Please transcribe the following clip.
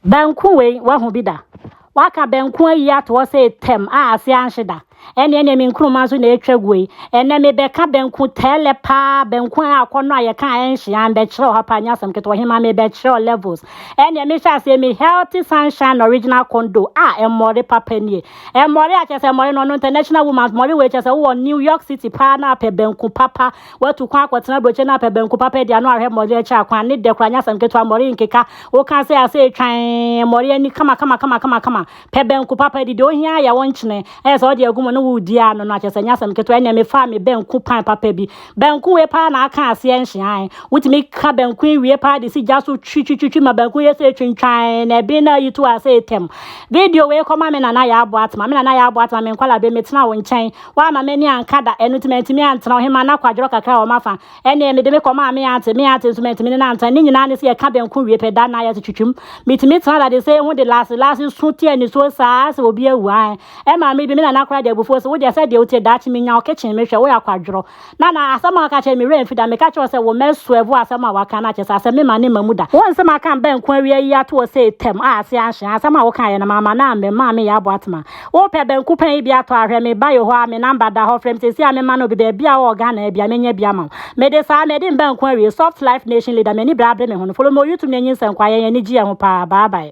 Banku wei, woahu bi da? Wɔaka banku ayi ato hɔ sɛ etam a ase anhye da. Ɛne ɛne me nkuruma nso na ɛretwa gu yi. Ɛnɛ mebɛka banku tɛɛlɛ paa, banku a akɔnnɔ a yɛka a ɛnhye a, mbɛkyerɛ wo ha paa, nyɛ asɛm ketewa. Ɔhemaa mebɛkyerɛ wo levels. Ɛne mehyɛ aseɛ me healthy sunshine original kondo a mmɔre papa nie. Mmɔre a kyerɛ sɛ mmɔre no ɔno international woman's mmɔre wei kyerɛ sɛ wowɔ New York City paa na apɛ banku papa Watu kwan akɔtena aburokyire no apɛ banku papa adi ano ahwɛ mmɔre akyɛ akwan ne dɛ kora nyɛ asɛm ketewa mmɔre nkeka woka sɛ asɛ etwan mmɔre ani kama kama kama kama kama pɛ banku papa di deɛ ohia ayɛ wo nkyene ɛyɛ sɛ ɔde agu mu ne wo redi a no no akyɛ sɛ nyɛ asɛm ketewa ɛnneɛ mefaa me banku pan papa bi banku wei paa na aka aseɛ nhyeae wotumi ka banku nwie paa de si gya so twitwitwitwi ma banku yɛ sɛ etwintwan na ɛben na ayi to a sɛ etɛm video wei kɔma me nana yɛ aboa atema me nana yɛ aboa atema me nkwalaa bɛ metena wo nkyɛn Wamma m'ani anka da, ɛno nti mantumi antena ɔhemmaa no akwadworɔ kakra a wɔafa. Ɛnneɛ mede me kɔmaa me auntie, me auntie nso mantumi ne no antena. Ne nyinaa ne sɛ yɛka banku wie pɛ, da no ara yɛte twitwam. Metumi tena dade sɛ ehu de Laase. Laase su te anisuo saa ara sɛ obi awu. Aane. Ɛmaa me bi, me nana koraa de abufuo se, Wo deɛ sɛdeɛ wotie, daakye menya wo kitchen mehwɛ, woyɛ akwadworɔ. Na na asɛm a ɔka kyerɛ me werɛ mfi da. Meka kyerɛ wo sɛ wo mma asuavu a asɛm a waka no akyɛ sɛ asɛm memma no mma mu da. Wonse maka mbɛ nko awia yi ato hɔ sei tɛm a ase anhye. Asɛm a wokaeɛ no mamma no ammɛ, mmaa me yɛ aboa tema. Wopɛ bɛ nko pɛn yi bi atɔ a, hwɛ me ba Yehowa a me namba da hɔ, frɛ me seesei a memma no obi baabi a wowɔ Ghana a bia mɛnya bi ama wo. Mede saa, madi mbɛ nko awie. Soft Life Nation Leader, M'ani bere abere me ho no, follow me wɔ YouTube na nyinsɛn kɔ a, yɛn ani gye yɛn ho paa. Bye bye.